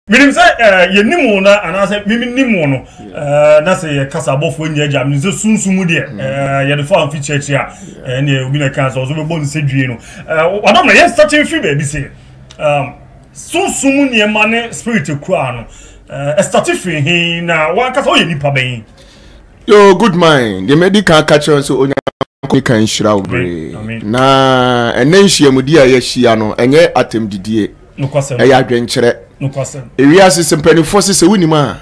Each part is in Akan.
Menim sɛ yɛnim wo no anaasɛ menim wo no na sɛ yɛkasa abɔfoɔ nyɛ agya menim sɛ sunsu mu deɛ yɛde fa mfi kyerɛkyerɛ a ɛneɛ obi na kaa sɛ ɔso bɛbɔ nsɛ dwie no ɔdɔ mmerɛ yɛ state mfiri baabi se sunsu mu nneɛma ne spirit kuraa no ɛstate firi he na wankasa woyɛ nipa bɛn yo good mind deɛ madi kan ka kyerɛ sɛ Nyankopɔn nhyira wo beree. Na ɛnɛ nhyiamudi a yɛahyia no, ɛnyɛ atɛmdidie, ɛyɛ adwenkyerɛ. Ewiase sɛ mpanimfoɔ se sɛ wonim a,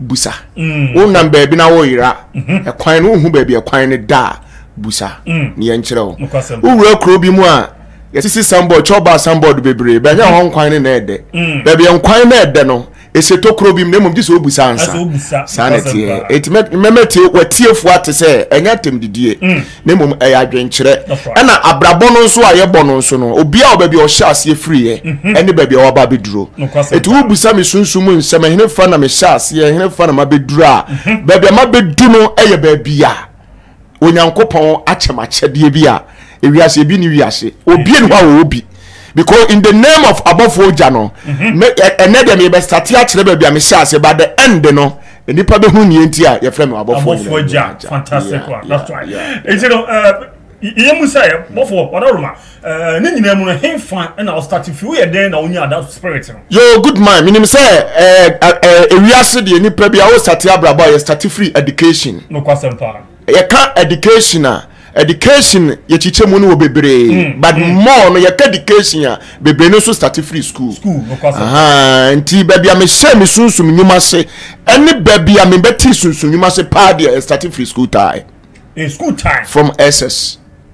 busa. Mm. Wonam baabi na woyera mm-hmm. ɛkwan no, wohu baabi ɛkwan no da a, busa mm. ne yɛnkyerɛ wo. Wowura kuro bi mu a, yɛsisi sambɔd, kyɛw baa sambɔd bebree, bɛhwɛ hɔ nkwan no na ɛdɛ. Mm. Baabi nkwan no ɛdɛ no, ɛsɛ tokuro bi mu na mmom gye sɛ ɔbusa ansa saa na ɛteɛ ɛti mɛmɛ tie watiefoɔ ate sɛ ɛnyɛ atɛm didie mm. na mmom ɛyɛ adwenkyerɛ ɛna abrabɔ no nso a yɛbɔ no nso no obiaa wɔ baabi a ɔhyɛ aseɛ firiiɛ mhm. ɛne baabi a wɔaba abɛduro ɛti wobusa me sunsum mu nsɛm ɛhene fa na mehyɛ aseɛ ɛhene fa na mabɛduro a mhm. baabi a mabɛdu no ɛyɛ baabi a Onyankopɔn akyɛ me akyɛdeɛ bi a ewiase ebi ni wiase obi ni hɔ a ɔwɔ bi because in the name of abɔfoɔ ogya no mhm. me ɛnɛ deɛ meyɛ bɛsate akyerɛ baabi a mehyɛ ase ba the end no nipa bɛ hu nie nti a yɛfrɛ mi abɔfoɔ ogya fantastic one that's right nti no yɛ mu sɛ bɔfoɔ ɔdɔroma Ɛɛ ne nyinaa mu no henfa na ɔstarte fi woyɛ dɛn na onyaa da spirit no. Yoo good man menim sɛ ɛɛ ɛɛ ewiase deɛ nipa bi a wo starte abrabɔ a yɛ starte firi education. Nokwasɛm paa. Yɛka education a education yɛkyikyɛ mu no wɔ bebree mm, but mm. more no yɛka education a bebree no nso starte firi school. School nokwasɛm. Ahaa nti baabi a mehyɛ me sunsum nnwuma se ɛne baabi a mebɛte sunsum nnwuma se paa deɛ ɛstarte firi school time. Eh, school time. From SS.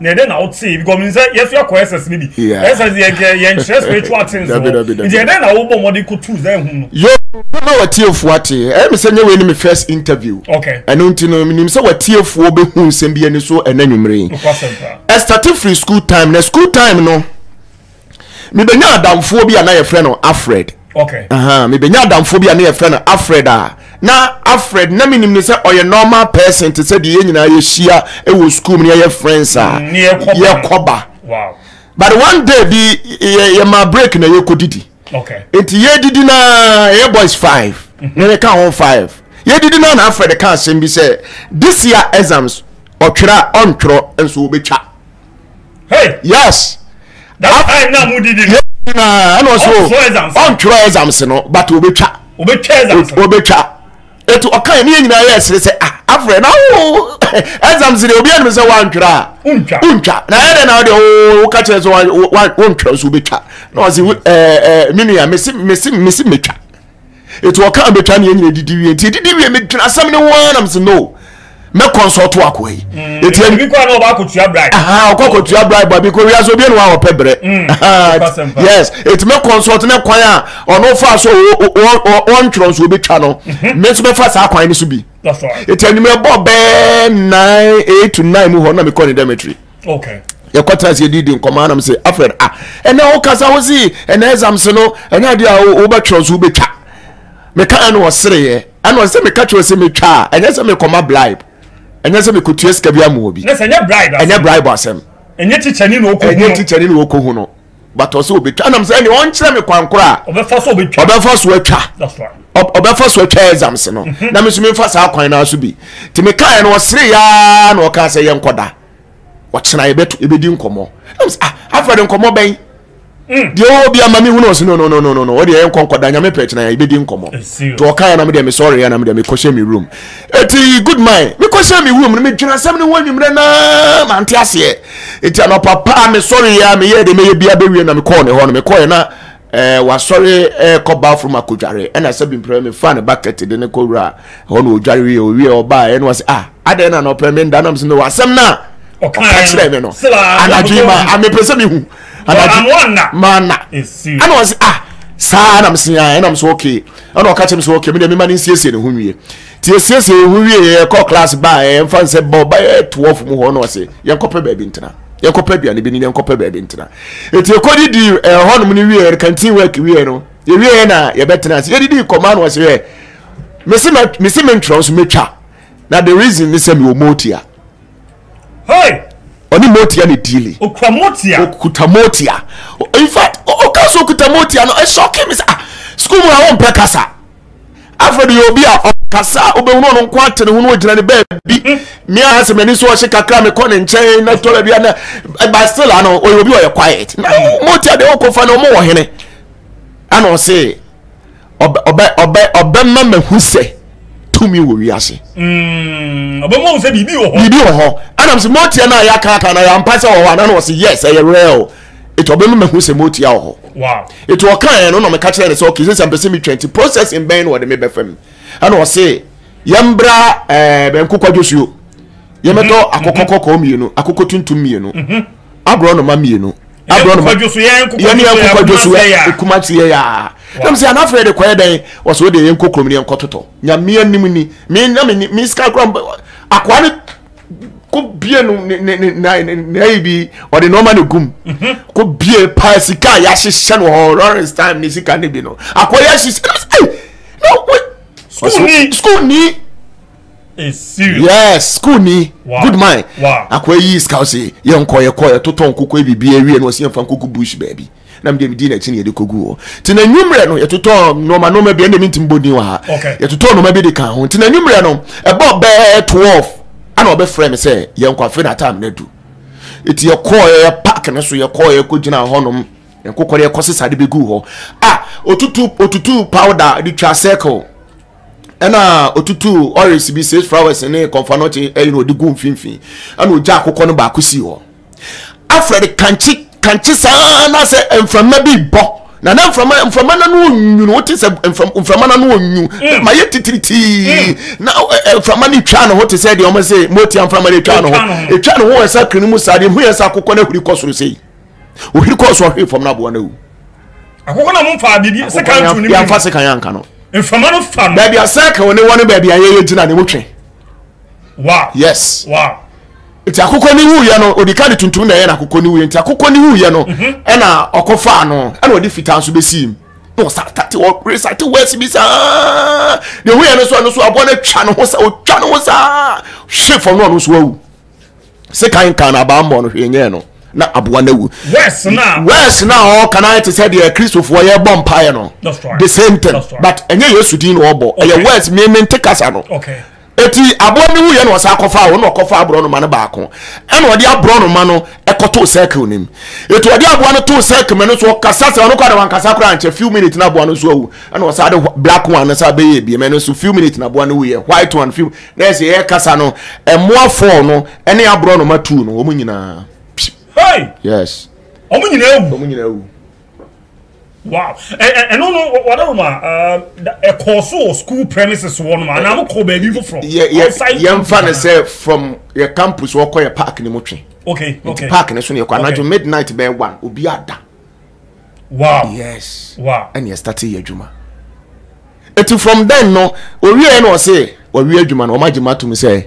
na ɛdɛ na wotee because mi sɛ yɛso yɛ kɔ ss ne bi ss yɛ yɛ yɛn kyerɛ spiritual things no nti ɛdɛ na wobɔ mɔden ko tu zan hu no. yoo bɛma watiefoɔ ate ɛyɛ mi sɛ nye wei ne mi first interview ɛno nti no mi nim sɛ watiefoɔ bɛ hu nsɛm bi ani so ɛnɛ nwumire yi ɛstate firi school time na school time no. mebɛnya adamfoɔ bi a na yɛfrɛ no afred okay. uh -huh. mebɛnya adamfoɔ bi a na yɛfrɛ no afred a na afred na menim ne sɛ ɔyɛ normal person te sɛ deɛ yɛ nyinaa yɛhyia wɔ school mu ne yɛyɛ friends a mm, yɛkɔba wow. but one day bi yɛma break na yɛkɔdidi okay. nti yɛdidi na yɛ boys five mm -hmm. na ne ka ho five yɛdidi na na afred ka asɛm bi sɛ this year exams ɔtwerɛ a ɔntwerɛ nso wobɛtwa hey yes that time na mu didi no na ɛna ɔsɛ o ɔntwerɛ exams no but obɛtwa obɛtwa exams no obɛtwa etu ɔka yɛ ne yɛ nyinaa yɛ ɛsere sɛ ah afrɛ na wo exams de obi anim sɛ wantwerɛ a wontwa na ɛyɛ dɛ na wode oh, woka kyerɛ sɛ wontwerɛ nso wobɛtwa na ɔse eh, eh, me nua mese mɛtwa eti ɔka mbɛtwa ne yɛn nyina didi wie nti edidi wie medwena asɛm ne ho ara nam sɛ no mɛ kɔnsɔto akoa yi mm, eti ebi kɔ anɔ ɔba akotua bribe aha ɔkɔ akotua bribe abi kɔ wia so obi enu a ɔpɛ brɛ mm, yes eti mɛ kɔnsɔto ne kwan a ɔno fa so ɔntwerɛ nso obi twa no mɛ mhm. nso mɛ fa saa kwan ne so bi eti enyimɛ bɔ bɛɛ nine eight to nine mu hɔ na mɛ kɔ ne dormitory. okay yɛkɔ tena ase yɛdidi nkɔmɔ anam sɛ afrɛ no ah ɛnna wokasa wo si ɛnna exams no ɛnna adeɛ a wobɛtwerɛ nso wobɛtwa meka ɛna ɔsereɛ ɛna ɔsɛ meka kyerɛ sɛ metwa a ɛnyɛ sɛ mekɔma bribe ɛnyɛ sɛ mekɔtua sika bi amoɔ bi ɛnyɛ bribe asɛm ɛnyɛ kyikyɛne na wɔkɔhu no but ɔsɛ obetwa nam sɛ ɛnna ɔnkyerɛ mi kwan kora a ɔbɛfa so obetwa ɔbɛfa so atwa ɔbɛfa so atwa exams no mhm. na mi nso mi nfa saa kwan naa so bi te mi kaa yɛn no ɔsere yaa na ɔkaa sɛ yɛn kɔda ɔkyena yɛbɛto yɛbɛdi nkɔmɔ ah afra de nkɔmɔ bɛn mm. deɛ ɔwɔ bi ama mi hu na ɔsi no no no no no ɔdeɛ yɛn nkɔ nkɔda nyame pɛ kyena yɛbɛdi nkɔmɔ te ɔkaa yɛn na mi deɛ mi sɔre yɛn na mi deɛ mi kɔhyɛ mi room eti good mind mi kɔhyɛ mi room no mi dwena sɛm ne ho anwummerɛ naa ma nte aseɛ Enti anɔpa pa a mesɔreeɛ a meyɛɛ deɛ mɛyɛ biara bɛwie na mekɔɔ ne hɔ no mekɔeɛ na eh, wasɔre eh, kɔ bathroom akɔdware ɛna sɛ bi mprɛ mefaa ne bucket de ne kɔwura ɛhɔ na ɔdware wie ɔwie ɔbaa ɛna ɔsɛ ah adɛn na anɔpa me nda nam sɛ mewɔ asɛm no a ɔka kyerɛ me no anadwo ma amepɛ sɛ mehu anadwo maana ɛna ɔsɛ ah saa nam se a ɛnam so okay ɛna ɔka kyerɛ me sɛ okay me deɛ mema no nsiesie ne ho nwie nti yɛsiesie yɛn ho wie yɛkɔ class baa ɛmfa n sɛ bɔ bɛyɛ 12 mu hɔ no ɔse yɛnkɔpɛ baabi ntena yɛnkɔpɛ aduane bi ne yɛnkɔpɛ baabi ntena ɛti ɛkɔdi di ɛhɔnom no wieɛ no kantin work wieɛ no yɛwieɛ na yɛbɛtena ase yɛdidi kɔma no ɔse yɛ mese mentwerɛ nso mɛtwa na the reason ne sɛ mewɔ motia ɔne motia ne dili okuta motia in fact ɔka so okuta motia no ɛsɔke me sɛ ah, school mu a wɔmpɛ kasa afei de yɛ obi a ɔkasa a wobɛhunu ɔno nko ate ne ho no ɔgyina ne baabi me a sɛ m'ani so ɔhye kakra mekɔ ne nkyɛn na tɔla bia na ɛba still ano ɔyɛ obi ɔyɛ quiet na moti adeɛ wokɔfa no ɔmowɔ hene ana ɔse ɔbɛma mahu sɛ tumi wɔ wiase mm, ɔbɛma hu sɛ biribi wɔ hɔ biribi wɔ hɔ anam sɛ motiɛ no a yɛakaaka na yɛampa sɛ wɔ hɔ ana na ɔse yes ɛyɛ real eti ɔbɛ mi ma hu sɛ mo tia wɔ hɔ eti ɔka yɛn no na ɔmɛka kyerɛ ne sɛ ɔkè sɛ mpɛ sɛ mi twɛn ti process mbɛn na ɔde mi bɛ fam ɛna ɔse yɛn bra ɛɛ bɛn kokɔ dwosuo yɛn bɛ tɔ akokɔ kɔkɔɔ mmienu akokɔ tuntum mmienu aborɔ noma mmienu aborɔ noma yɛn yɛn kokɔ dwosuo ekuma ti yɛ yaa na mi sɛ anafɛ de kɔɛ dɛn ɔsɛ o de yɛn kokɔ mu ni yɛn kɔ totɔ nyamea nim ni mi na mi ni mi sika kura akɔa ne. ko bie no ne ne ne na ne na yi bi ɔde nneɛma na egum mhm. ko bie paa sika a yɛahyehyɛ no wɔ lawrence time ne sika ne bi no akɔyɛ ahyehyɛ no sɛ na wo school ni school ni yes school ni good man akɔyɛ yi sika ɔsɛ yɛn kɔ yɛ kɔ yɛ totɔ nkoko ebi bi ewie na ɔsɛ yɛn fa nkoko bush baabi. na medeɛ medii n'akyi na yɛde kɔgu hɔ nti na nwummerɛ no yɛtotɔɔ nnoɔma nnoɔma bi ɛnde mentimi bɔ din wɔ ha yɛtotɔɔ nnoɔma bi de ka ho nti na nwummerɛ no ɛbɔ bɛɛ 12 ana ɔbɛfrɛ me sɛ yɛnkɔ afe na atam no adu ɛti yɛkɔɔɛ park no so yɛkɔɔɛ kɔgyina hɔnom nkokɔre ɛkɔ sesa de bɛgu hɔ a otutu otutu powder de twa circle ɛna otutu oris bi six flowers ne kɔnfanɔkye ɛyɛ na ɔde gu mfimfini ɛna ɔgya akokɔ no baako si hɔ afrɛ no kankye kankye saa na sɛ mframa bi bɔ na na mframa mframa na no nwunu wote sɛ mframa na no nwunu mm. ma yɛ titiritii mm. na mframa no twa ne ho te sɛ deɛ ɔmo sɛ motia mframa no twa ne ho ɛtwa ne ho ɛsa kiri mu saa deɛ hu yɛ sɛ akokɔ no ahuri kɔ soro sei ohiri kɔ so ɔhwe fam no aboa no awu akokɔ na mo fa biribi sɛ kan tu ne mu yɛmfa se kan yɛ anka no mframa no fa no baabi asɛ ka wɔ ne wɔ ne baabi a yɛyɛ gyina ne mu twe wow yes wow nti akokɔ ne wuiɛ no ɔdi ka de tuntum na ɛyɛ no akokɔ ne wuiɛ nti akokɔ ne wuiɛ no mhm. ɛna ɔkɔ faa no ɛna ɔde fitaa nso bɛsii mu na ɔsate ɔresate wɛsi bi saa na ehu yɛ no so ɛno so aboa no atwa ne ho saa ɔtwa ne ho saa hwe fam na ɔno nso awu se kan kan na abaa mmɔ no hwee nyɛɛ no na aboa no awu wɛsi na ɔka na ayɛ te sɛ deɛ kristofoɔ yɛ bɔ mpaeɛ no the same thing but ɛnyɛ yesu din na ɔbɔ ɛyɛ wɛsi mmemme nte kasa no. Okay. Eti aboa no wuiɛ na ɔsan kɔfaa wɔn na ɔkɔfaa aborɔnoma no baako ɛna ɔde aborɔnoma no ɛkɔtoo circle no mu eti ɔde aboa no too circle mu ɛno nso ɔkasa sɛ ɔno kɔ na wankasa koraa nkyɛ few minutes na aboa no nso awu ɛna ɔsan de black one no san bɛyɛ ebiem ɛno nso few minutes na aboa no wuiɛ white one few na ɛsɛ yɛ kasa no ɛmoa fɔɔ no ɛne aborɔnoma two no wɔn nyinaa yes wɔn nyinaa awu wɔn nyinaa awu wow ɛno no wɔdɛ ma ɛkɔɔ so wɔ school premises wɔ nom anaa mokɔ baabi foforɔ yɛmfa no sɛ from yɛ campus wɔkɔ yɛ park no mu twe okay okay park no so ne yɛkɔ anadwo midnight bɛyɛ one obi ada wow yes wow ɛne yɛstate yɛ adwuma ɛti from then no owieɛ na ɔse wɔwie adwuma no ɔma gyema tom sɛ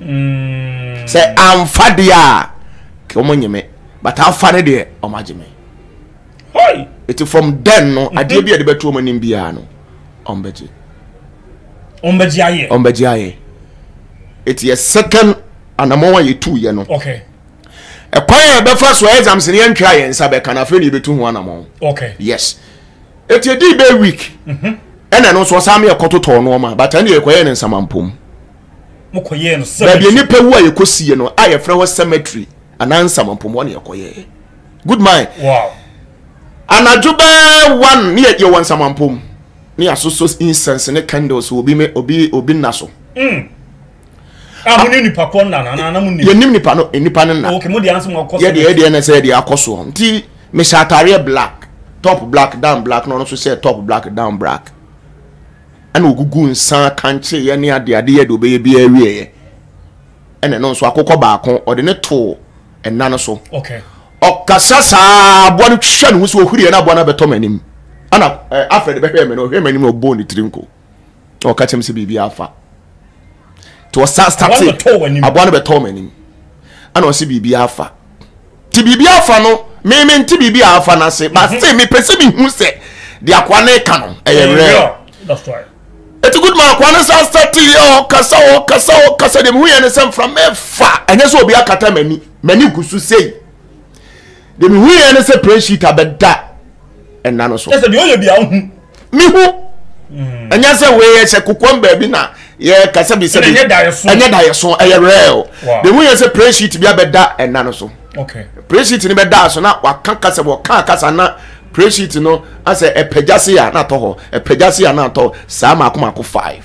mm. sɛ amfa deɛ a kɛ wɔn nyeme but afa ne deɛ wɔn agye me eti from then no mhm. adeɛ bi a yɛde bɛto wɔn anim biara no wɔn bɛgye wɔn bɛgye ayɛ wɔn bɛgye ayɛ eti yɛ second anamɔn a yɛtu yɛ no okay ɛkwan a yɛbɛfa so exams ne yɛntwa yɛn nsa bɛka na afei na yɛbɛtu ho anamɔn okay yes eti edi bɛ week mhm. ɛna ɛno nso ɔsan mi ɛkɔtotɔ nneɛma but ɛna yɛkɔyɛ ne nsamanpom. mokɔyɛɛ no cemetery. Baabi nipa wu a yɛkɔ si yɛ no a yɛfrɛ hɔ cemetery anaa nsamanpɔm hɔ na yɛkɔyɛɛ. Good mind. Wow. Anadwo bɛɛ one ne yɛ yɛwɔ nsamanpɔm ne yɛasosɔ incense ne candles obi me obi obi nna so. Mm. Ah, mo ne nipa kɔ nna na na mo nim. Yɛnim nipa no nipa no nna. Okay, mo de ansa mo akɔ. Yɛ de yɛ de na sɛ yɛ de akɔ so. Nti me hyɛ atareɛ black, top black, down black na ɔno nso hyɛ top black, down black. ɛna ogugu nsa kankyee ne ade ade yɛ de obɛyɛ bi awieɛ ɛna ɛno nso akokɔ baako ɔde ne too ɛna no so ɔkasa saa aboa no twitwa ne ho so ɔhuriɛ na aboa no abɛtɔ m'anim ɛna afɛ de bɛhwɛ me no ɔhwɛ m'anim na ɔbɔɔ ne tiri nko ɔka kyɛm sɛ biribi afa nti ɔsa state aboa no bɛtɔɔ m'anim ɛna ɔsi biribi afa ti biribi afa no mímí nti biribi afa no ase but mhm. still mi pɛ sɛ mi hu sɛ di akoa ne ka no ɛyɛ real eti good man akoa no sa state yɛ ɔkasa ɔkasa ɔkasa deɛ mi hu yɛ ne sɛ nfra mɛfa ɛnyɛ sɛ obi akata m'ani m'ani gu so sei. Deɛ mi hu yɛ ne sɛ plane sheet abɛda ɛna no so. Ɛsɛ deɛ ɔyɛ bi a ɔhu. Mi hu. Mm. Ɛnyɛ sɛ wei yɛ sɛ kokoam baabi na yɛ kasa bi sɛ bi. Ɛnyɛ da yɛ so. Ɛnyɛ da yɛ so ɛyɛ real. Deɛ mi hu yɛ sɛ plane sheet bi abɛda ɛna no so. Okay. Plane sheet ni bɛ da so na waka kasa wɔ kaa kasa na plane sheet no asɛ ɛpɛgya se a na atɔ hɔ ɛpɛgya se a na atɔ saa mako mako five.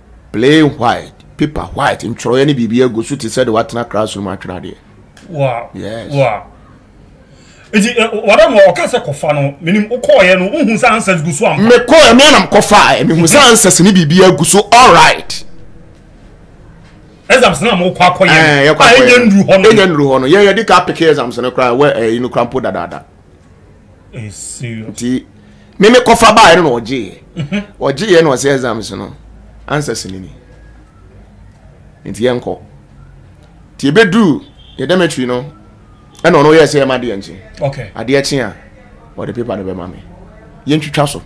plain white paper white ntwerɛeɛ ne biribi agu so te sɛ de watena classroom atwerɛ adeɛ wow yes wow nti wɔda mu ɔka sɛ kɔfa no menim wokɔɔyɛ no wohu sɛ answers gu so ampa mekɔɛ me anam kɔfaɛ mehu sɛ answers ne biribi agu so all right exams na mo kɔ akɔyɛ ɛnyɛ nnuru hɔ no ɛnyɛ nnuru hɔ no yɛn yɛde ka apeke exams no koraa wɔ ɛyi no koraa mpo dadaada nti me me kɔfa baeɛ no na ɔgyeeɛ mhm. ɔgyeeɛ na ɔsɛ exams no answers no ni nti yɛnkɔ nti yɛbɛduu yɛ dormitory no ɛna ɔno yɛ sɛ ɛma adeɛ nkye adeɛ kye a ɔde paper no bɛma me yɛntwitwa so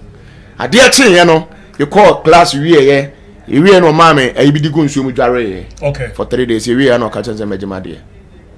adeɛ kyeeɛ no yɛkɔɔ class wieɛ yɛwieɛ no ɔmaa me ayi bi de gu nsuo mu dwareeɛ for three days yɛwieɛ na ɔka kyɛn sɛ mɛgye ma adeɛ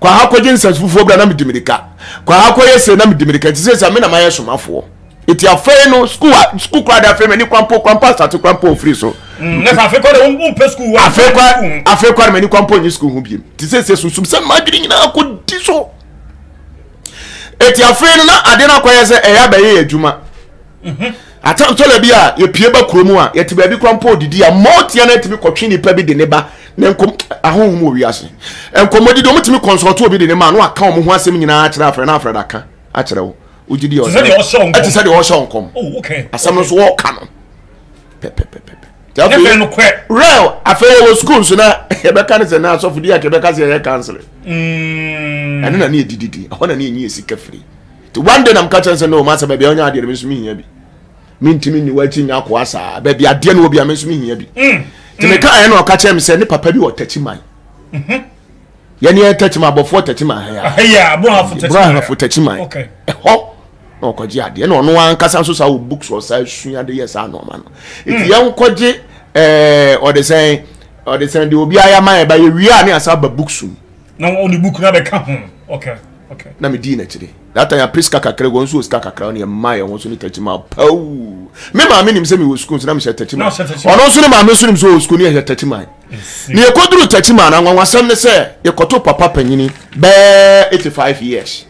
kɔ ha kɔgye nsase fufuo bra na medi mirika kɔ ha kɔyɛ sei na medi mirika nti sɛ sɛ me na mayɛ somafoɔ ɛti afei no skul skul koraa de afei m'ani kwampo kwampo asate kwampo mfiri so mm, afei kwa no m'ani kwampo nye skul ho biem nti sɛ sɛ sunsum sɛ madwene nyinaa kɔdi so ɛti afei no na ade no akɔyɛ sɛ ɛyɛ abɛyɛ yɛ adwuma Atɛntɔla bi a yɛpue ba kuro mu a yɛte baabi kora mpo ɔdidi a mma ɔtia no atumi kɔtwe nipa bi de ne ba ne nkɔm ahohom wɔ wiase nkɔmmɔdidi ɔmo tumi kɔnsɔlto obi de ne ma no aka ɔmo ho asɛm nyinaa akyerɛ afrɛ na afrɛ da ka akyerɛ wo wogye di ɔsɛ ɛte sɛ deɛ ɔhyɛ nkɔm asɛm no so wɔka no pɛpɛpɛpɛ real afei yɛwɔ sukuu nso na yɛbɛka no sɛ na asɔfo di a kɛbɛka sɛ yɛyɛ counseling ɛno na ne yɛdididi ɛhɔ na ne yɛnyi yɛ sika firi nti one day na meka kyerɛ sɛ no masɛ baabi a wonya adeɛ no me nso mehia bi mentumi nni wakyi nya akoa saa baabi adeɛ no wɔ bi a me nso mehia bi mm, nti mm. meka ɛyɛ na ɔka kyerɛ me sɛ ne papa bi wɔ takyi man mhm. yɛne yɛ takyi man abɔfoɔ takyi man brahafo takyi man ɛhɔ na ɔkɔgye adeɛ na ɔno ankasa nso saa wɔ books wɔ saa sua de yɛ saa nɔɔma no nti mm. yɛnkɔgye ɛɛ ɔde sɛn ɔde sɛn de obi ayɛ ama yɛ ba yɛ wia ne asa ba books mu na wɔn de book na bɛka ho okay okay na medii n'akyire that time apɛ sika kakra wɔn nso wɔ sika kakra ɔne ɛma yɛn ho so ne tɛkyi ma pawuu me maame nim sɛ mewɔ sukuu nso na mehyɛ tɛkyi ma ɔno nso ne maame nso nim sɛ ɔwɔ sukuu ne yɛhyɛ tɛkyi ma ne yɛkɔduru tɛkyi ma no anwanwasɛm ne sɛ yɛkɔto papa panyini bɛɛ 85 years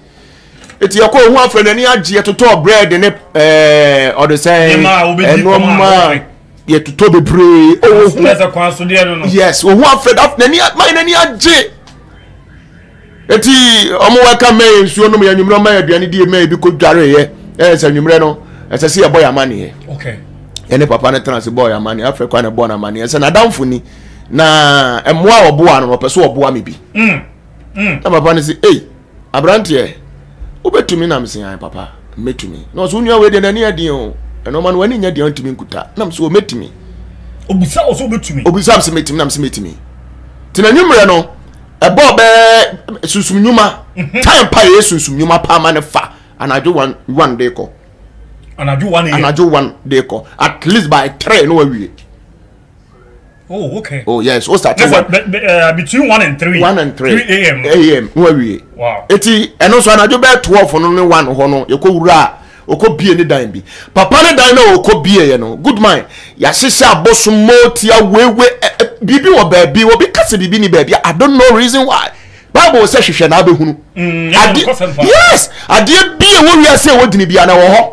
eti ɛkɔ ohun afɛ n'ani agye yɛtotɔ bread ne ɛɛ ɔde sɛn ɛnɔɔma yɛtotɔ bebree ɔwɔ hu yes ohun afɛ n'ani mayɛ n'ani agye eti ɔmo wɛka mɛyɛ nsuo nom yɛ nwummerɛ ɔmo yɛ aduane die mɛyɛ bi ko dware yɛ ɛyɛ sɛ nwummerɛ no ɛsɛ sɛ yɛbɔ yɛ amaneɛ yɛne papa no tena se bɔɔ yɛ amaneɛ afei kwan na ɛbɔɔ no amaneɛ sɛ n'adamfo ni na mmoa a ɔboa no ɔpɛ so ɔboa me bi mm, mm. na papa no se ei Aberanteɛ, wobɛtumi? Nam se, ae papa, mɛtumi. Na ɔse, wo nua wei deɛ n'ani yɛ den o, ɛno ɔma no w'ani nyɛ den a ɔntumi nkuta. Nam se, o mɛtumi. Obisa ɔse wobɛtumi? Obisa se mɛtumi, nam se mɛtumi. Nti na nwummerɛ no, ɛbɔɔ bɛɛ sunsum nnwuma, mhm. time pa yɛyɛ sunsum nnwuma paa ma no fa anadwo one one de kɔ. Anadwo one anadwo one de kɔ at least by three no wawie. Oh, okay. Oh, yes. What's that? Yes, one? But, but, uh, between 1 and 3. 1 and 3. 3 a.m. a.m. No awie. Wow. Eti, ɛno nso anadwo bɛyɛ 12 no ne 1 hɔ no, yɛkɔ wura a, ɔkɔ bie ne dan bi. Papa ne dan na ɔkɔ bie yɛ no, good mind. Yɛahyehyɛ abosom moti awewe, eh, eh, biribi wɔ baabi, obi ka sɛ biribi ni baabi, I don't know reason why. Bible sɛ hwehwɛ na abɛhunu. Mm, yes, adeɛ bi a ɛwɔ wiase a ɛwɔ dini bi a na ɛwɔ hɔ.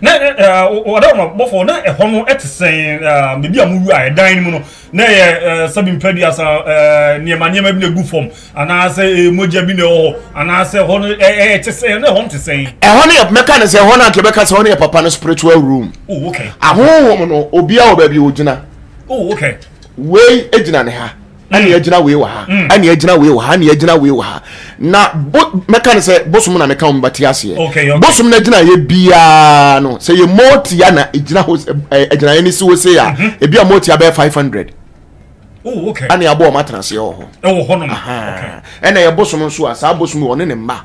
na ɛ ɛ ɔda wɔn abɔfo na ɛhɔ no ɛte sɛn ɛɛ beebi a mo wura yɛ dan no mu no na ɛyɛ ɛɛ sɛbi mpɛ bi asa ɛɛ nneɛma nneɛma bi na egu fam anaasɛ ɛɛ mogya bi na ɛwɔ hɔ anaasɛ ɛhɔ no ɛɛ te sɛn na ɛhɔ no te sɛn. ɛhɔ no yɛ mɛka no sɛ ɛhɔ no anka bɛka sɛ ɛhɔ no yɛ papa no spiritual room. oh okay. ahohom no obiara wɔ baabi ogyina. oh okay. wei gyina ne ha. ɛne mm. agyina wei wɔ ha mm. ɛne agyina wei wɔ ha ɛne agyina wei wɔ ha na bo mɛka ne sɛ bosom na mɛka wɔn ba ti aseɛ bosom na agyina yɛ biara no sɛ yɛ mɔɔtia na agyina hɔ agyina yɛ ne si hɔ se a mhm. ebi a mɔɔtia bɛyɛ five hundred oh, ɛne aboɔ wɔn atena aseɛ wɔ hɔ ɛna yɛ bosom nso a saa bosom wɔn ne ne mma.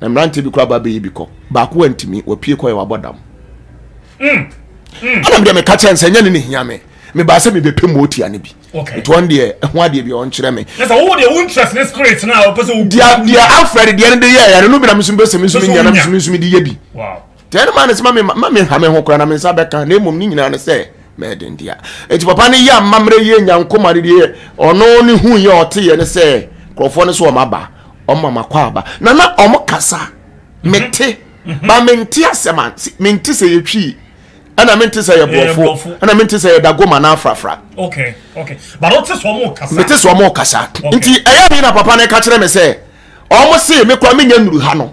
Na mmeranteɛ bi koraa ba bɛyi bi kɔ. Baako antumi, wapue kɔɛ, wabɔ dam. Mm, mm. Ɛna medeɛ meka kyerɛ no sɛ ɛnyɛ ne ne hia me. Mebaa sɛ mebɛpɛ mu ɔtia no bi. Okay. Nti ɔno deɛ ɛho adeɛ bi ɔnkyerɛ me. Na sɛ wowɔ deɛ wo interest ne spirit no a wopɛ sɛ wo. Deɛ deɛ afrɛ de deɛ no de yɛɛ ɛno no bi na mesumi bɛsɛ mesumi nyɛ na mesumi nsumi de yɛ bi. Wow. deɛ ne maa ne sɛ ma menha me ho koraa na me nsa bɛka na mmom ne nyinaa ne sɛ mɛden dea ɛti papa no yɛ amammerɛ yie nya nkoma no deɛ ɔno ne hu yɛ ɔteyɛ ne sɛ nkurɔfoɔ no so ɔma aba ɔma makɔ aba na na ɔmo kasa mete ba mente asɛm a mente sɛ yɛtwii ɛna mente sɛ yɛ borɔfo ɛna mente sɛ yɛ dagoma na afrafra mete sɛ ɔmo kasa nti ɛyɛ ne na papa no ka kyerɛ me sɛ ɔmo se mekora menya nnuru ha no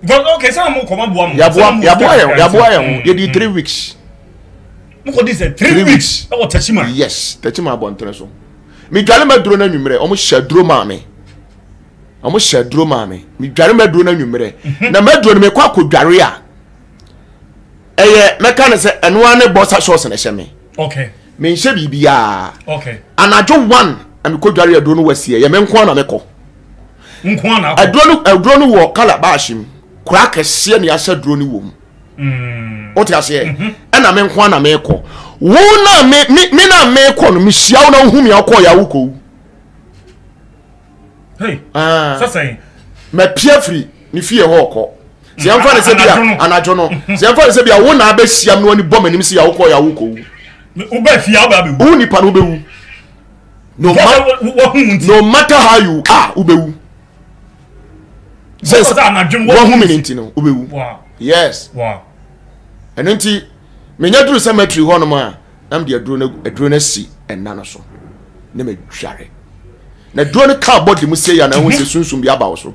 because okay sɛ mo kɔ ma boa mo yaboa yaboa yɛn yaboa yɛn ho yɛdi three weeks mo kɔ di sɛ three weeks ɛwɔ tɛkyima yes tɛkyima abɔntene so mi dwale ma duro na nwummerɛ wɔn hyɛ duro maa mi wɔn hyɛ duro maa mi mi dwale ma duro na nwummerɛ mhm. na ma duro no mi kɔ akɔ dware a ɛyɛ mɛka ne sɛ ɛnoa ne bɔsa sɔɔsi na ɛhyɛ mi okay mi nhyɛ biribiara okay anadwo one na mi kɔ dware a duro no wɔ si yɛ yɛ mi nko na mi kɔ. nkoa na akɔ. aduro no aduro no wɔ calabash mu kora kɛseɛ ne asɛ aduro no wɔ mu mm. wote aseɛ mhm. ɛna me nkoa na mekɔ wo na me me na mekɔ no mehyia wo na wohu me akɔ yɛ awokɔwu ah. mapia firi ne fie hɔ ɔkɔ sɛ yɛmfa ne sɛ bia anadwo no mhm. sɛ yɛmfa ne sɛ bia wo na abɛsiam no ani bɔ m'anim sɛ yɛawokɔ yɛ awokɔwu wo nipa no wobɛwu no matter how you are wobɛwu sɛ wahu me ne nti no wobɛwu yes ɛno nti menya duru sɛ matiri hɔ nom a na mede aduro no asi ɛna no so na madware na duro no ka bɔde mu sei a na ɛho sɛ sunsum bi aba wo so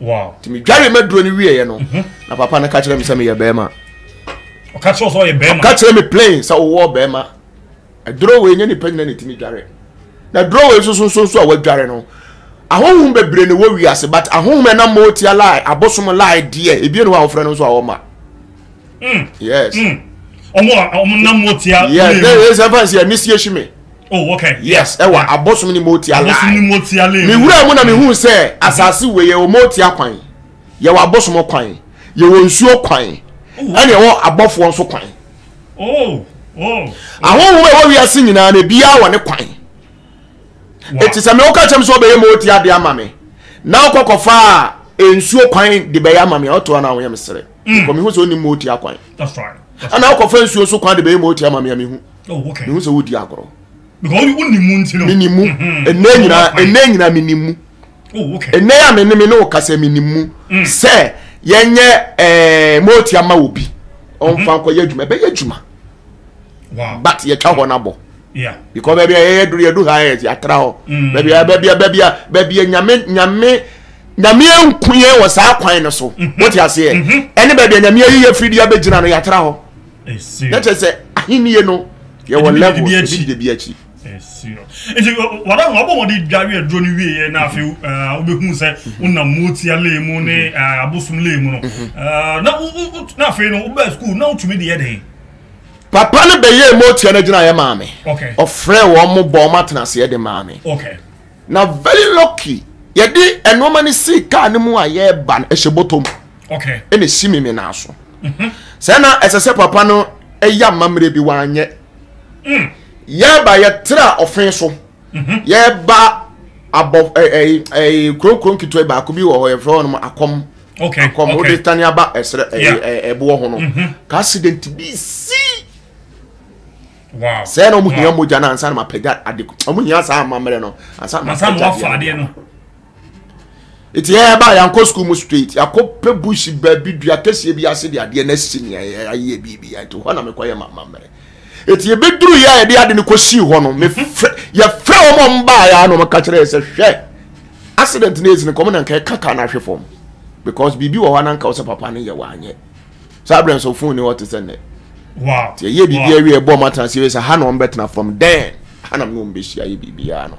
wow ti mi dware ma duro ni wiye yɛ no mhm. na papa no ka kyerɛ mi sɛ mi yɛ bɛrima ɔka kyerɛ sɛ ɔyɛ bɛrima ɔka kyerɛ mi plain sɛ ɔwɔ bɛrima ɛduro wei nye nipa nyina ne ti mi dware na duro wei soso soso a wadware no ahohom bebree na ɛwɔ wiase but ahohom ɛnam ma ɔtia lie abosom lie deɛ ebien no a wɔfrɛ no nso a wɔma Mm. Yes. Mm. Ọmụ a ọmụ nna mmụọ tia. Yes, na yẹ sẹ fẹn si ẹni si ehyí mi. Oh, okay. Yes, ẹ wà abosom ni mmụọ tia lai. Abosom ni mmụọ tia lai. Mi wura mu na mi hu sẹ asase wei yẹ ọmụ tia kwan, yẹ wọ abosom kwan, yẹ wọ nsuo kwan, ẹni ẹ wọ abọfoɔ nso kwan. Oh, oh. Ahohom ẹ wọ wiase nyinaa na ebi awọ ne kwan. Eti sẹ mi ọka kyẹm sọ ọbẹ yẹ mmụọ tia de ama mi, na ọkọkọ fa nsuo kwan de bẹ yẹ ama mi, ọtọ na ahonyẹ mi sere. mm. kɔ mehu sɛ wonim ma ɔti akwan ana wokɔfa nsuo so kwan de bɛyɛ ma ɔti ama me a mehu oh, mehu sɛ wodi agorɔ menim mu mm-hmm. ɛnɛ nyinaa ɛnɛ nyinaa menim mu oh, ɛnɛ a me ne me ne wo kasɛ menim mu mm. sɛ yɛnyɛ eh, ma ɔti ama wɔ bi ɔmfa mm-hmm. nkɔyɛ adwuma ɛbɛyɛ adwuma but yɛtwa hɔ no abɔ Yeah. Because baabi a yɛyɛ duru yɛdu ha yɛ yɛatra hɔ. Mm. Baabi a baabi a baabi a baabi a nyame nyame nyame nku yɛn wɔ saa kwan no so. Mm-hmm. Wote aseɛ? Mm-hmm. Ɛne baabi a nyame ayi yɛ firi de abɛgyina no yɛatra hɔ. Na kyerɛ sɛ ahennie no yɛwɔ level ebi de bi akyi. Nti wɔn a wɔbɔ wɔn de dware aduro no wie yɛ na afei mm-hmm. wobɛhu sɛ wonam motia lee mu ne abosom lee mu no na afei no wobɛɛ sukuu na wotumi de yɛ dɛn papa no bɛyɛɛ motua no agyinaeɛ maa me ɔfrɛɛ wɔn mo bɔ wɔn atenaseɛ de maa me na very lucky yɛde nnoɔma no sii kaa no mu a yɛreba no ɛhyɛ bɔtɔ mu ɛna ɛsi me me naa so mhm. sɛ na ɛsɛ sɛ papa no ɛyɛ amammerɛ bi wanyɛ mm. yɛba yɛtra ɔfen so yɛba abɔ ɛɛ ɛɛ kurokuro nketewa baako bi wɔ hɔ yɛfrɛ wɔn akɔm akɔm o de tani aba ɛsrɛ ɛɛ ɛboɔ ho no mhm. ka accident bi si sɛ na ɔmo hia mogya na ansa na ma pɛgya ade ɔmo hia saa amammerɛ no ansa na ma pɛgya adeɛ no nti yɛyɛ ba yɛankɔ sukuu mu straight yɛakɔpɛ bush baabi dua kɛseɛ bi ase de adeɛ no asi nea yɛayɛ biribia nti hɔ na mekɔyɛ mamammerɛ nti yɛbɛduru yɛ a yɛde ade no kɔsii hɔ no yɛfrɛ wɔn a wɔbaeɛ na wɔka kyerɛ yɛ sɛ hwɛ accident no ɛsi no kɔm na nka ɛka ka no ahwe fam because biribi wɔ hɔ na nka wo sɛ papa no yɛ wɔanyɛ saa berɛ nso fon ni hɔ te sɛ nnɛ nti ɛyɛ biribi awie ɛbɔ ɔmatena sɛ ha na wɔbɛtena from then ha na mene wɔbɛhyia yɛ biribiaa no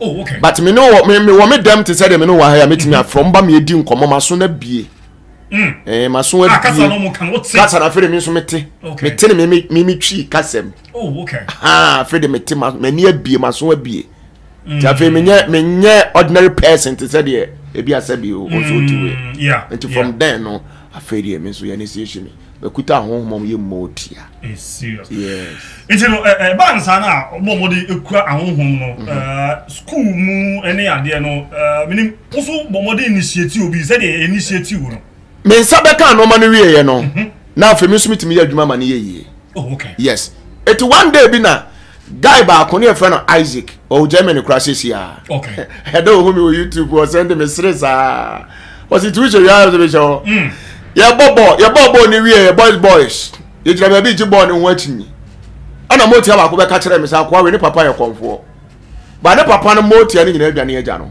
oh okay but me ne wɔ me me wɔ me dɛm te sɛ deɛ me ne wɔ ha yɛ mɛtumi mm-hmm. afrɛ mba meyɛdi nkɔmmɔ maso no abie mm. eh, maso ah, abie kasa na afei de me nso mete mete ne me me me twi kasa mu oh, ah, afei de mete m'ani abie maso abie nti mm. afei menyɛ menyɛ ordinary person te sɛ deɛ ebi asɛ bi o nso ti wei nti from then no afei deɛ me nso yɛ ne si ehyi mi. Bɛkuta ahonhom a wɔyɛ mma otua. It's serious. Yes. Nti no ɛ ɛ ɛbaa no saa no a wɔn a wɔde kura ahonhom no ɛ school mu ne adeɛ no ɛ menim wo so bɔ mmɔden initiate obi sɛdeɛ yɛ initiate wo no. Me nsa bɛkaa nneɛma no wieeɛ no na afei me nso metumi yɛ adwuma ma no yɛ yie. Oh okay. Yes. Eti one day bi na guy baako ne yɛfrɛ no isaac ɔwɔ germany koraa sɛsi a ɛdɛ ɔhu me wɔ youtube ɔsɛnde mesere saa ɔse ti wohyɛ wiaa sɛ mehyɛ hɔ yɛbɔ bɔɔl yɛbɔ bɔɔl ne wieɛ boys boys yɛgyina baabi gye bɔɔl ne ho akyinyi ɛna motia baako bɛka kyerɛ me sɛ akoa wei ne papa yɛ kɔmfoɔ ba ne papa no motia no nyinaa adwane agya no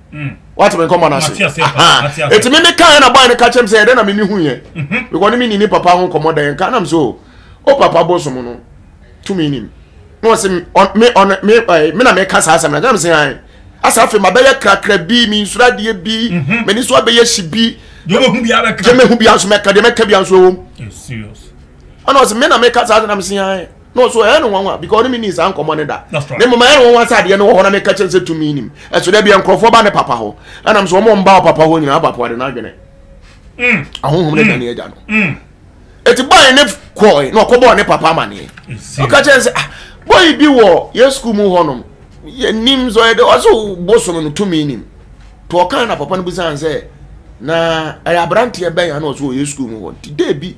mm. wate me nkɔmmɔ no ase ɛti meme kaɛ na bɔe no ka kyɛm sɛ ɛdɛ na meme huyɛ mhm. bikɔ ne meni ne papa ho nkɔmmɔ dɛn ka nam so o papa bo som no tumi nim na ɔse me na meka saa asɛm no nam sɛ ae asa afei mabɛyɛ krakra bi me nsuro adeɛ bi mhm. m'ani so abɛyɛ hye bi gyemɛhu bia nso mɛka deɛ mɛka bia nso ɛwom ɛna ɔse me na meka saa asɛm nam sɛ ae no so ɛyɛ no nwanwa because ɔne me nii saa nkɔmmɔ no da ne mmom ɛyɛ no nwanwa sɛ adeɛ no wɔ hɔ na meka kyerɛ sɛ tumi nim ɛso da bia nkurɔfoɔ ba ne papa hɔ ɛnam sɛ ɔmɔ mba papa hɔ nyinaa bapo ade no adwene mm. ahohom ne mm. dane agya no mm. ɛti bɔe ne kɔe na ɔkɔbɔɔ ne papa amaneɛ ɔka kyerɛ sɛ ah, bɔe bi wɔ yɛ sukuu mu hɔnom yɛnim sɛ ɔyɛ dɛ ɔso bosom no tumi nim to ɔka na papa no bisan sɛ na ɛyɛ aberanteɛ bɛn a na ɔso ɔyɛ sukuu mu hɔ nti dɛ bi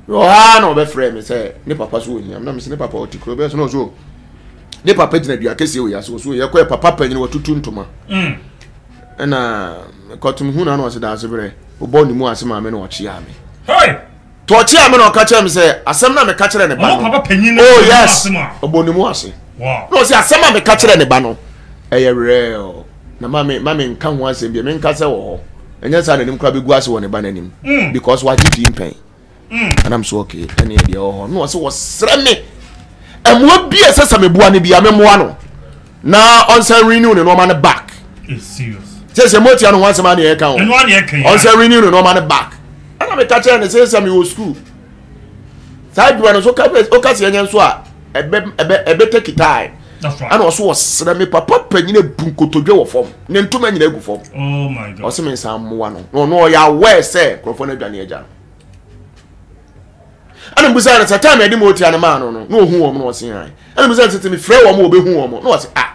Wɔ hɔ ara na wɔbɛfrɛɛ me sɛ ne papa so ohia me na mese ne papa ɔte kuro bɛyɛ so na ɔso oh, ne papa gyina dua kɛseɛ wɔ yɛase ɔso yɛkɔɛ papa panyin watutu ntoma mm. ɛna kɔtom hu na na ɔse daase berɛ wobɔ ne mu ase maa me na ɔkyeaa me to ɔkyeaa me na ɔka kyerɛ me sɛ asɛm na meka kyerɛ ne ba no oh yes ɔbɔ ne mu ase na ɔse asɛm a meka kyerɛ ne ba no ɛyɛ werɛ na ma me ma me nka ho asɛm bi me nka sɛ wɔ hɔ ɛnyɛ saa n'anim kora bɛgu ase wɔ ne ba n'anim mm. because wagye di mpɛn mm. anam so okay ɛne ɛdeɛ wɔ hɔ na ɔsɛ wɔsrɛ me ɛmoa bi a ɛsɛ sɛ meboa no bia memmoa no na ɔnsan renew ne nɔɔma no back sɛ sɛ motia no ho asɛm aneɛ ɛka ho ɔnsɛ renew ne nɔɔma no back ɛna meka kyerɛ ne sɛ sɛ mewɔ school saa adwuma no so woka sɛ ɛnyɛ nso a ɛbɛtɛ kitae ɛna ɔso ɔsrɛ me papa panyin abu nkotodwe wɔ fam ne ntoma nyina agu fam oh ɔse me nsa mmoa no na ɔno ɔyɛ aware sɛ nkurɔfoɔ no adwane agya no ɛna mbusa no sɛ time ɛde ma ɔtia no maa no no na ɔhu wɔn na ɔse ae ɛna mbusa no sɛ sɛ mefrɛ wɔn a wɔbɛhu wɔn na ɔse ah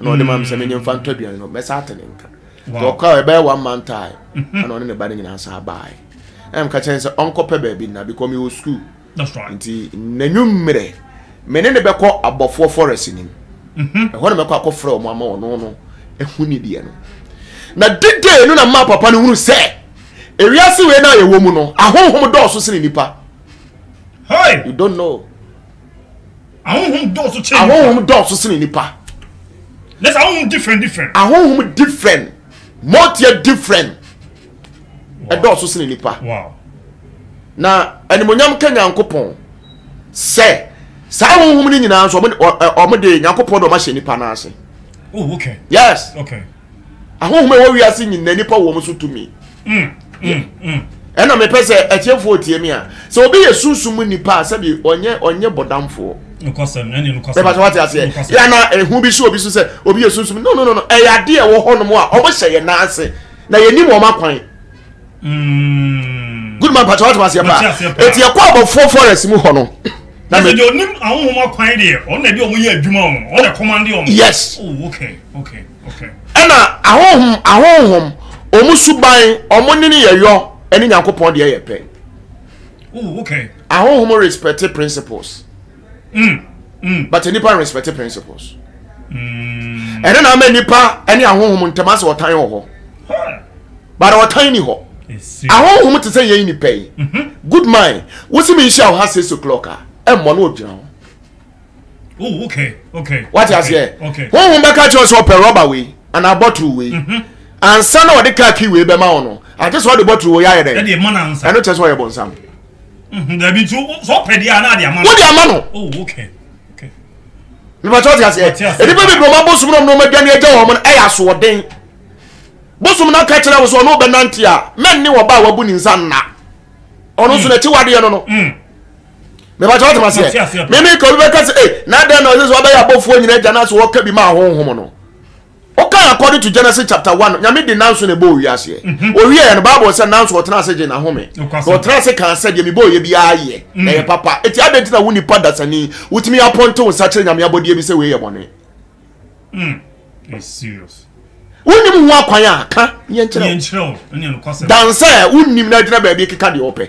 ɛna ɔde ma me sɛ menye mfa ntɔ aduane no mɛsa ate ne nka nti ɔkɔ a ɛbɛyɛ one month a mhm. ɛna ɔne ne ba no nyinaa saa baeɛ ɛna meka kyerɛ ne sɛ ɔnkɔpɛ baabi nna because mewɔ school nti n'anwummerɛ me ne ne bɛkɔ abɔfoɔ forest nim mhm. ɛhɔ na mɛkɔ akɔfrɛ ɔmo ama ɔno no ɛhu ne deɛ no na didee no na maa papa no hunu sɛ ewiase wei no a yɛwɔ mu no ahonhom dɔɔso sene nipa you don't know ahohom dɔɔso kyɛn nipa ahohom dɔɔso kyɛn nipa na sɛ ahohom different different ahohom different mɔteɛ different ɛdɔɔso kyɛn nipa na animonyam ka nyankopɔn sɛ saa ahohom no nyinaa nso ɔmo de nyankopɔn de ɔmo ahyɛ nipa n'ase oh, yes ahonhom a ɛwɔ wiase nyinaa nipa wɔ wɔn so tumi mm, mm, mm. ɛna mepɛ sɛ atiefoɔ tie me a sɛ obi yɛ sunsum mu nipa a sɛbi ɔnyɛ ɔnyɛ bɔdamfoɔ bɛba sɛ wate aseɛ yɛ na ɛho bi so obi so sɛ obi yɛ sunsum no no no ɛyɛ adeɛ ɛwɔ hɔnom a ɔmo hyɛ yɛ nan ase na yɛnim wɔn akwan Mm. Good man pàtó wàtò aseɛ paa. Eti ɛkɔ abɔfoɔ forest mu hɔ no. Na mi. Ɛsɛ onim ahohom akwan deɛ ɔno na ɛdi ɔmo yɛ adwuma ɔmo ɔno na ɛkɔmande ɔmo. Yes. Oh okay okay okay. Ɛna ahohom ahohom ɔmo suban ɔmo nini yɛ yɔ ɛne nyankopɔn deɛ yɛ pɛ. Oh okay. Ahohom respect principles. mm, mm. but nipa respect principles mm. ɛno na ama nipa ɛne ahohom ntam asɛ ɔtan wɔ hɔ but ɔtan ni hɔ ahohom te sɛ yɛn nipa yi mhm. good mind wosi mi nhyia ɔha six o'clock a ɛmmɔ no ogyina hɔ oh, okay, okay, wate aseɛ honhom bɛka kyerɛ sɛ ɔpɛ rɔba wei anaa bɔtoro wei mhm. ansa na ɔde kaa kii wei bɛma wo no agye sɛ ɔde bɔtoro wei ayɛ dɛ ɛno kyerɛ sɛ ɔyɛ bɔnsam Mhm, dabi nti sɛ ɔpɛ deɛ a na ade ama no. Wode ama no. Oh, okay. Okay. Mepatɛ ɔte aseɛ. Ɔte aseɛ. Nnipa bebree wɔn abosom nom nom aduane agya wɔn no ɛyɛ asoɔden. Bosom no aka kyerɛ wo sɛ ɔno ɔbɛnante a mɛnne ɔba a wabu ne nsa nna. Ɔno nso mm. n'akyi wadeɛ no no. Mm. Mepatɛ ɔte aseɛ. Mimi ka obi bɛka sɛ, ee, eh, na adɛn na ɔsɛ sɛ ɔbɛyɛ abɔfoɔ nyina agya no ase ɔka bi ma ahonhom no. Wokan according to Genesis chapter one Nyame de nanso na ɛbɔɔ wiaseɛ. Mm-hmm. Owieɛ no Bible sɛ nanso ɔtena ase gye n'ahome. Na ɔtena ase kan sɛ deɛ mebɔɔ yɛ biara yɛ na ɛyɛ mm. papa. Eti adɛn nti na wo nipa dasani wotumi apɔnte wo nsa kyerɛ Nyame abɔdeɛ bi sɛ wei yɛ bɔne? Mm. It's serious. Wonim ho akwan a ka yɛnkyerɛ wo. Dansɛ wonim na agyina baabi keka deɛ ɔpɛ.